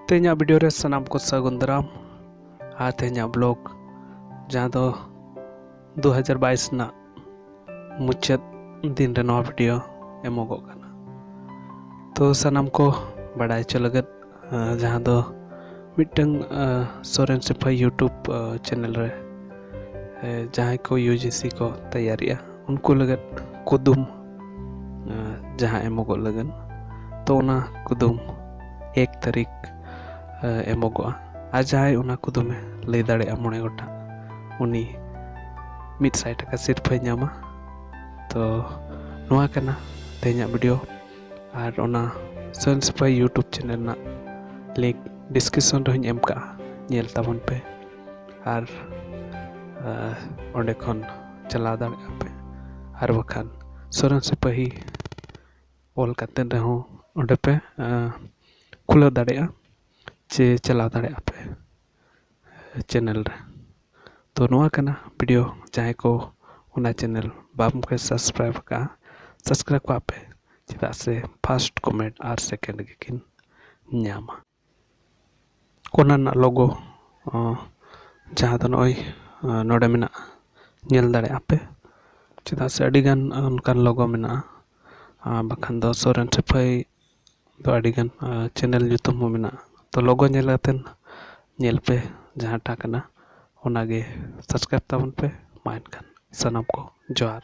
ᱛᱮᱦᱮᱧᱟᱜ ᱵᱷᱤᱰᱤᱭᱳ ᱨᱮ ᱥᱟᱱᱟᱢ ᱠᱚ ᱥᱟᱹᱜᱩᱱ ᱫᱟᱨᱟᱢ ᱟᱨ ᱛᱮᱦᱮᱧᱟᱜ ᱵᱞᱚᱜ ᱡᱟᱦᱟᱸ ᱫᱚ ᱫᱩ ᱦᱟᱡᱟᱨ ᱵᱟᱭᱤᱥ ᱨᱮᱱᱟᱜ ᱢᱩᱪᱟᱹᱫ ᱫᱤᱱ ᱨᱮ ᱱᱚᱣᱟ ᱵᱷᱤᱰᱤᱭᱳ ᱮᱢᱚᱜᱚᱜ ᱠᱟᱱᱟ ᱛᱚ ᱥᱟᱱᱟᱢ ᱠᱚ ᱵᱟᱲᱟᱭ ᱦᱚᱪᱚ ᱞᱟᱹᱜᱤᱫ ᱡᱟᱦᱟᱸ ᱫᱚ ᱢᱤᱫᱴᱟᱝ ᱥᱚᱨᱮᱱ ᱥᱮᱯᱷᱟ ᱤᱭᱩᱴᱩᱵᱽ ᱪᱮᱱᱮᱞ ᱨᱮ ᱡᱟᱦᱟᱸᱭ ᱠᱚ ᱤᱭᱩ ᱡᱤ ᱥᱤ ᱠᱚ ᱛᱮᱭᱟᱨᱮᱜᱼᱟ ᱩᱱᱠᱩ ᱞᱟᱹᱜᱤᱫ ᱠᱩᱫᱩᱢ ᱡᱟᱦᱟᱸ ᱮᱢᱚᱜᱚᱜ ᱞᱟᱹᱜᱤᱫ ᱛᱚ ᱚᱱᱟ ᱠᱩᱫᱩᱢ ᱮᱠ ᱛᱟᱹᱨᱤᱠᱷ ᱮᱢᱚᱜᱚᱜᱼᱟ ᱟᱨ ᱡᱟᱦᱟᱸᱭ ᱚᱱᱟ ᱠᱩᱫᱩᱢᱮ ᱞᱟᱹᱭ ᱫᱟᱲᱮᱭᱟᱜᱼᱟ ᱢᱚᱬᱮ ᱜᱚᱴᱟᱝ ᱩᱱᱤ ᱢᱤᱫ ᱥᱟᱭ ᱴᱟᱠᱟ ᱥᱤᱨᱯᱟᱹᱭ ᱧᱟᱢᱟ ᱛᱚ ᱱᱚᱣᱟ ᱠᱟᱱᱟ ᱛᱮᱦᱮᱧᱟᱜ ᱵᱷᱤᱰᱤᱭᱳ ᱟᱨ ᱚᱱᱟ ᱥᱮᱞ ᱥᱟᱯᱷᱟᱭ ᱤᱭᱩᱴᱩᱵᱽ ᱪᱮᱱᱮᱞ ᱨᱮᱱᱟᱜ ᱞᱤᱝᱠ ᱰᱤᱥᱠᱨᱤᱯᱥᱚᱱ ᱨᱮᱦᱚᱸᱧ ᱮᱢ ᱠᱟᱜᱼᱟ ᱧᱮᱞ ᱛᱟᱵᱚᱱ ᱯᱮ ᱟᱨ ᱚᱸᱰᱮ ᱠᱷᱚᱱ ᱪᱟᱞᱟᱣ ᱫᱟᱲᱮᱭᱟᱜᱼᱟ ᱯᱮ ᱟᱨ ᱵᱟᱠᱷᱟᱱ ᱥᱚᱨᱮᱱ ᱥᱤᱯᱟᱹᱦᱤ ᱚᱞ ᱠᱟᱛᱮ ᱨᱮᱦᱚᱸ ᱚᱸᱰᱮ ᱯᱮ ᱠᱷᱩᱞᱟᱹᱣ ᱫᱟᱲᱮᱭᱟᱜᱼᱟ ᱪᱮ ᱪᱟᱞᱟᱣ ᱫᱟᱲᱮᱭᱟᱜᱼᱟ ᱯᱮ ᱪᱮᱱᱮᱞ ᱨᱮ ᱛᱚ ᱱᱚᱣᱟ ᱠᱟᱱᱟ ᱵᱷᱤᱰᱤᱭᱳ ᱡᱟᱦᱟᱸᱭ ᱠᱚ ᱚᱱᱟ ᱪᱮᱱᱮᱞ ᱵᱟᱝ ᱯᱮ ᱥᱟᱵᱥᱠᱨᱟᱭᱤᱵᱽ ᱠᱟᱜᱼᱟ ᱥᱟᱵᱥᱠᱨᱟᱭᱤᱵᱽ ᱠᱟᱜ ᱯᱮ ᱪᱮᱫᱟᱜ ᱥᱮ ᱯᱷᱟᱥᱴ ᱠᱚᱢᱮᱱᱴ ᱟᱨ ᱥᱮᱠᱮᱱᱰ ᱜᱮᱠᱤᱱ ᱧᱟᱢᱟ ᱚᱱᱟ ᱨᱮᱱᱟᱜ ᱞᱳᱜᱳ ᱡᱟᱦᱟᱸ ᱫᱚ ᱱᱚᱜᱼᱚᱭ ᱱᱚᱰᱮ ᱢᱮᱱᱟᱜᱼᱟ ᱧᱮᱞ ᱫᱟᱲᱮᱭᱟᱜ ᱟᱯᱮ ᱪᱮᱫᱟᱜ ᱥᱮ ᱟᱹᱰᱤᱜᱟᱱ ᱚᱱᱠᱟᱱ ᱞᱳᱜᱳ ᱢᱮᱱᱟᱜᱼᱟ ᱟᱨ ᱵᱟᱠᱷᱟᱱ ᱫᱚ ᱥᱚᱨᱮᱱ ᱥᱤᱯᱟᱹᱦᱤ ᱫᱚ ᱟᱹᱰᱤᱜᱟᱱ ᱪᱮᱱᱮᱞ ᱧᱩᱛᱩᱢ ᱦᱚᱸ ᱢᱮᱱᱟᱜᱼᱟ ᱛᱚ ᱞᱳᱜᱳ ᱧᱮᱞ ᱠᱟᱛᱮᱫ ᱧᱮᱞ ᱯᱮ ᱡᱟᱦᱟᱸᱴᱟᱜ ᱠᱟᱱᱟ ᱚᱱᱟᱜᱮ ᱥᱟᱵᱥᱠᱨᱟᱭᱤᱵᱽ ᱛᱟᱵᱚᱱ ᱯᱮ ᱢᱟ ᱮᱱᱠᱷᱟᱱ ᱥᱟᱱᱟᱢ ᱠᱚ ᱡᱚᱦᱟᱨ